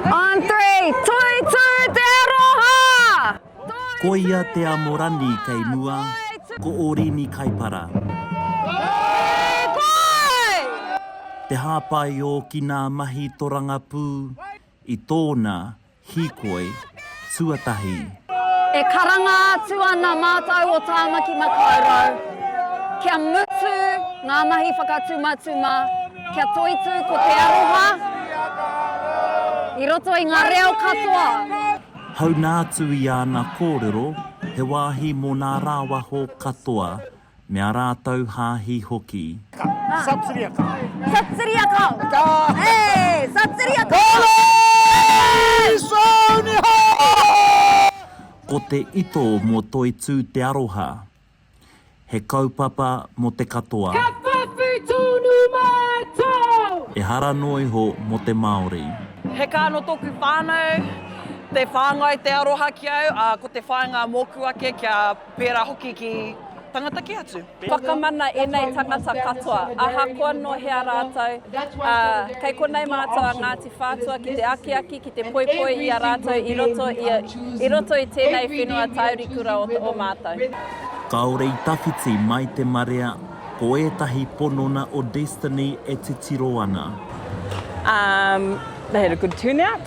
On three, tui tū te aroha! Ko ia te Amorani kei mua, ko Orini Kaipara. Koi! Koi! Te hāpai ōki nā mahi torangapū i tōna hīkoi. tuatahi. E karanga atu ana mātou o Tāmaki Makaurau kia mutu ngā mahi whakatumatuma, kia toitū ko te aroha i roto i ngā reo katoa. Hauna atu i āna kōrero, he wāhi mō nā rāwaho katoa. me a rātou hāhi hoki. Ka satiria kau. Satiria kau. Ka. Hey! Satiria kau. Police! Onihau! Ko te ito mo Toitū te aroha. He kaupapa mo te katoa. Ka whawhi tonu mātou! Ehara noa iho mo te Māori. He kā no toku whānau. Te whāngai te aroha ki au, a ko te whainga moku ake kia. Pērā hoki ki tangata kē atu. Whakamana ēnei tangata katoa, ahakoa nō hea rātou, ā, kei konei mātou a Ngāti Whātua ki te akiaki, ki te poipoi i a rātou i roto i, i roto i tēnei whenua taurikura o, o mātou. Kāore i tawhiti mai te marea, ko ētahi ponona o Destiny e titiro ana. Um, they had a good turnout.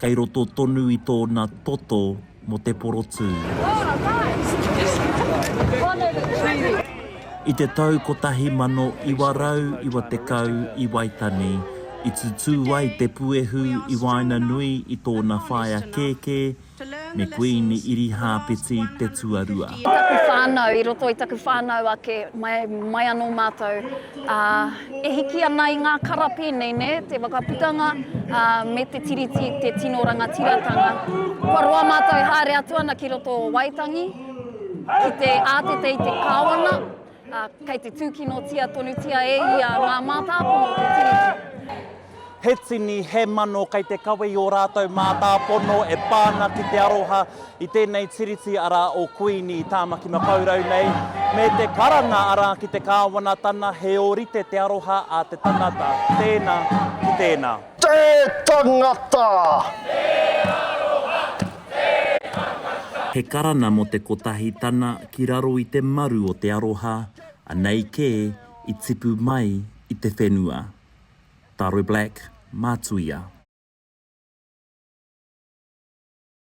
Kei roto tonu i tōna toto mō te porotū. I te tau 1990 i Waitani i tutū ai te puehu i waenganui i tōna whaea kēkē me Kuīni Irihāpeti te Tuarua. I taku whānau, i roto i taku whānau ake, mai anō mātou Ā, e hiki ana i ngā kara pēnei, nē, te Whakaputanga, ā, me te Tiriti, te tino rangatiratanga, kua roa mātou e haere atu ana ki roto o Waitangi, ki te ātete i te Kāwana, ā, kei te tūkinotia tonutia e ia ngā mātāpono o te Tiriti. he tini, he mano kei te kawe i ō rātou mātāpono e pā ana ki te aroha i tēnei Tiriti arā o Kuini Tāmaki Makaurau nei, me te karanga arā ki te Kāwanatana he ōrite te aroha a te tangata tēnā ki tēnā. Te tangata! Te aroha! Te tangata! He karanga mō te kotahi tana ki raro i te maru o te aroha, anei kē i tipu mai i te whenua. Taro Black, Matuia.